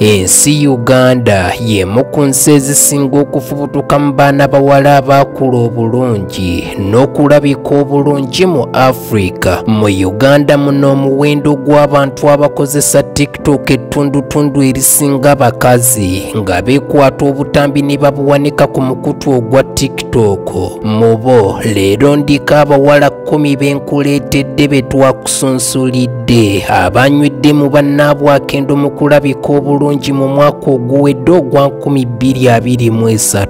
ensi uganda y'emu ku nsi ezisinga okufubutuka mu baana bawala abaakula obulungi n'okulabika obulungi mu afirika mu uganda muno omuwendo gw'abantu abakozesa tiktok ettundutundu erisinga abakazi nga beekwata obutambi ne babuwanika ku mukutu ogwa tiktok mu bo leero ndiko abawala kkumi benkuleetedde betwaku sunsulidde abanywedde mu bannaabwakendo mu kulabika obulungi mu mwaka oguwedde ogwa 2023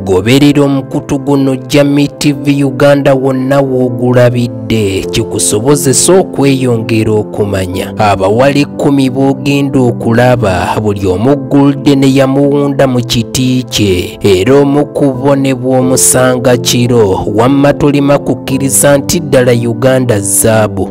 goberera omukutu guno jami tv uganda wonna woogulabidde kikusobozesa okweyongera okumanya abawala ekkumi boogenda okulaba buli omu gulde ne yamuwunda mu kiti kye era omu ku bo ne bw'omusanga kiro wamma tolima kukkiriza nti ddala uganda zaabu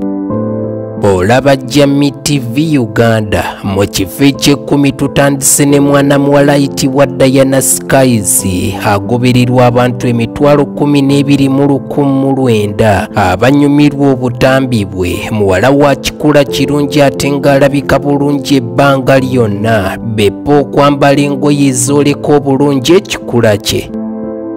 olaba jami tv uganda mu kifo eky'ekkumi tutandise ne mwana muwala ayitibwa diana skies agobererwa abantu emitwalo kumi n'ebiri mu ku mulwenda abanyumirwa obutambi bwe muwala wa kikula kirungi ate ng'alabika bulungi ebbanga lyonna bepa okwambala engoye ezooleka obulungi ekikula kye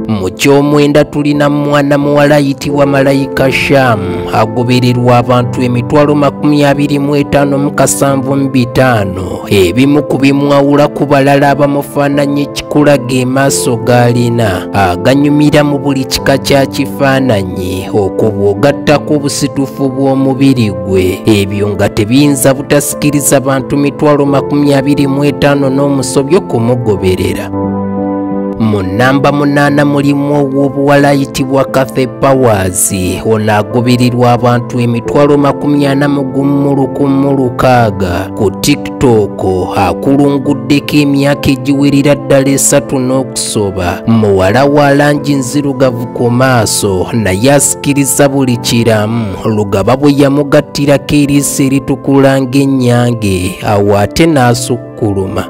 mu ky'omwenda tulina mwana muwala ayitibwa malayika shamu agobererwa abantu emitwalo makumi abiri mu etaano mu kasanvu mu bitaano ebimu ku bimwawula ku balala abamufaananya ekikulaga emaaso g'alina aganyumira mu buli kika kya kifaananyi okwo bw'ogattako obusitufu bw'omubiri gwe ebyo nga tebiyinza butasikiriza bantu mitwalo makumi abiri mu etaano n'omusobyo kumugoberera mu nnamba munaana mulimu ow'obuwala ayitibwa cathe powers Nsi ono agoberirwa abantu emitwalo makumi ana mu gumu lukumu lukaaga ku TikTok akulunguddeko emyaka egiwerera ddala esatu n'okusoba muwala wa langi nzirugavu ku maaso naye asikiriza buli kiramu lugaba bwe yamugattirako eriiso eritukula ng'ennyange awo ate n'asukka kuluma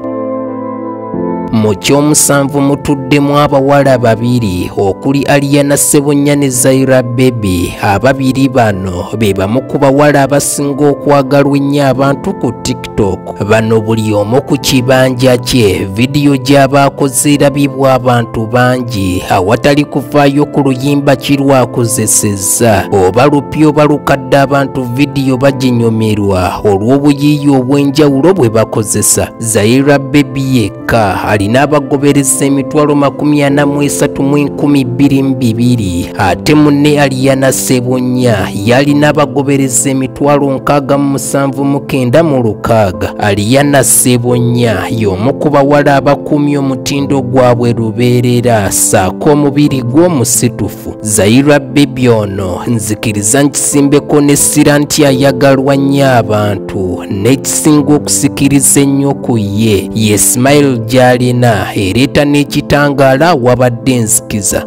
mu kyomusanvu mutuddemu abawala babiri okuli aliyana ssebunya ne zaira bebi ababiri bano be bamu ku bawala abasinga okwagalwa ennyo abantu ku tiktok bano buli omu ku kibanja kye vidiyo gy'abaakoze erabibwa abantu bangi awatali kuvaayo ku luyimba kirwakozeseza Kasa oba lupya oba lukadde abantu vidiyo baginyumirwa olw'obuyiiya obw'enjawulo bwe bakozesa zaira bebi yekka alina abagobereza emitwalo makumi ana mu esatu mu enkumi bbiri mu bibiri ate munne aliyana sebunya yalina abagobereza emitwalo nkaaga mu musanvu mu kenda mu lukaaga aliyana sebunya y'omu ku bawala abakuumye omutindo gwabwe lubeerera saako omubiri gw'omusitufu omutuufu zaira bebi ono nzikiriza nkisimbeko n'essira nti ayagalwa nnyo abantu n'ekisinga okusikiriza ennyo ku ye ye smile gy'alina ereeta n'ekitangaala wabadde enzikiza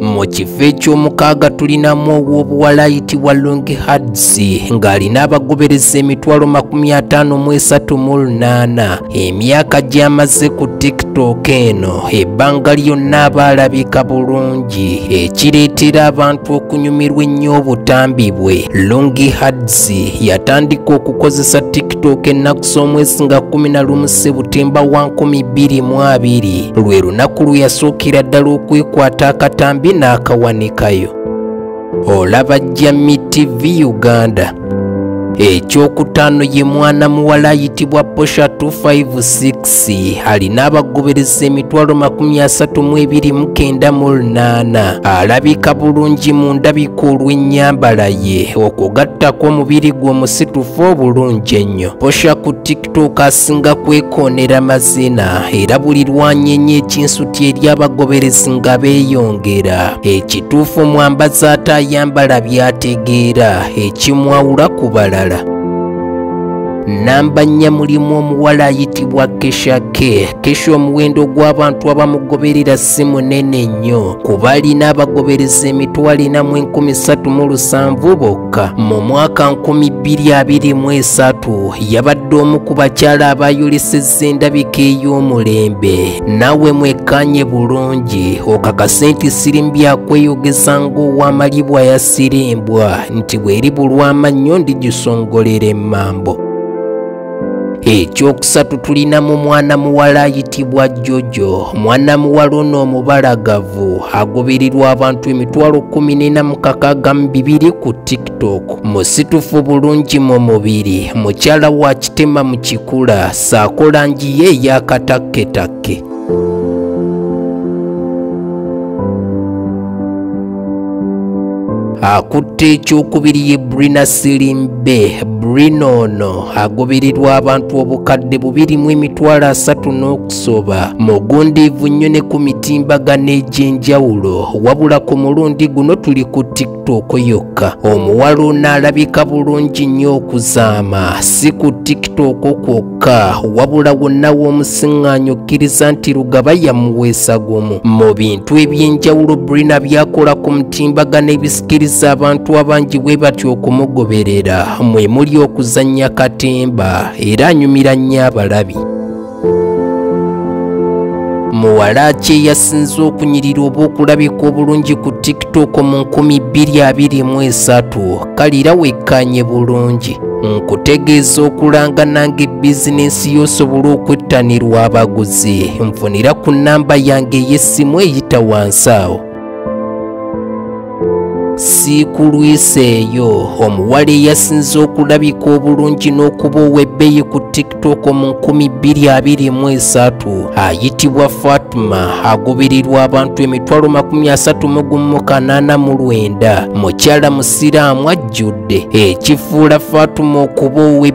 mu kifo eky'omukaaga tulinamu ow'obuwala ayitibwa longi hadsi ng'alina abagobereza emitwalo makumi ataano mu esatu mu lunaana Emyaka gy'amaze ku TikTok eno ebbanga lyonna aba alabika bulungi ekireetera abantu okunyumirwa ennyo obutambi bwe. Longi Hadzi yatandika okukozesa TikTok ennaku z'omwezi nga kkumi na lumu Sebutemba wa nkumi bbiri mu abiri lwe lunaku lwe yasookera ddala okwekwata akatambi n'akawanikayo. olaba jami tv uganda ekyokutaano ye mwana muwala ayitibwa posha 256 alina abagobereza emitwalo makumi asatu mu ebiri mukenda mu lunaana alabika bulungi mu ndabika olw'ennyambala ye okugattako omubiri gwe omusitufu obulungi ennyo posha ku tuuka asinga kwekoonera mazina era buli lwanyenye ekinsuti eri abagoberezi nga beeyongera ekituufu omwambazi ate ayambala byategeera ekimwawula ku balala namba nnya mulimu omuwala ayitibwa kesha ke kesha omuwendo gw'abantu abamugoberera si munene nnyo kuba alina abagobereza emitwalo ena mu enkumi ssatu mu lusanvu bokka mu mwaka nkumi bbiri abiri mu esatu yabadde omu ku bakyala abayolesezza endabika ey'omulembe naawe mwekkaanye bulungi okakase nti sirimu byakweyogeza ng'owamalibwa yasirimbwa nti bweri bulwamannyo ndigisongolera emmambo ekyokusatu tulina mu mwana muwala ayitibwa jojo mwana muwala ono omubalagavu agoberirwa abantu emitwalo kumi nena mukakaga mu bibiri ku tiktok musitufu bulungi mu mubiri mukyala wa kitema mu kikula saako langi ye eyakatakketakke akutte ekyokubiri ye brina silimbe brina ono agobererwa abantu obukadde bubiri mu emitwalo asatu n'okusoba mugundiivu nnyo ne ku mitimbagano egy'enjawulo wabula ku mulundi guno tuli ku tik tiktok yokka omuwala onaalabika bulungi nnyo okuzaama si ku tiktok kwokka wabula wonna w'omusiŋŋaanyo okkiriza nti lugaba yamuweesa gumu mu bintu eby'enjawulo brina byakola ku mutimbagano ebisikiriza abantu abangi bwe batya okumugoberera mwe muli okuzannya katemba era anyumira nnyo abalabi muwala ki eyasinze okunyirira oba okulabika obulungi ku tiktok mu 2023 kalira wekkaanye bulungi nkutegeeza okulanga nange bizinensi y'osobola okwettanirwa abaguzi nfunira ku nnamba yange ey'essimu eyita wansi awo sikulwiseeyo omuwala eyasinze okulabika obulungi n'okuba ow'ebbeeyi ku tiktok mu 223 ayitibwa fatima agobererwa abantu emitwalo 338 mukyala musiraamu ajjudde ekifuula fatima okuba owe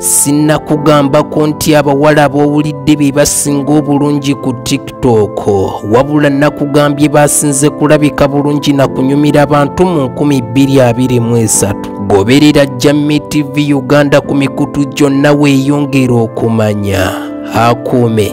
sinnakugambako nti abawala abowulidde be basinga obulungi ku tiktok wabula nakugambye basinze kulabika bulungi na kunyumira abantu mu 223 goberera jammi tv uganda ku mikutu gyonna weeyongera okumanya akuume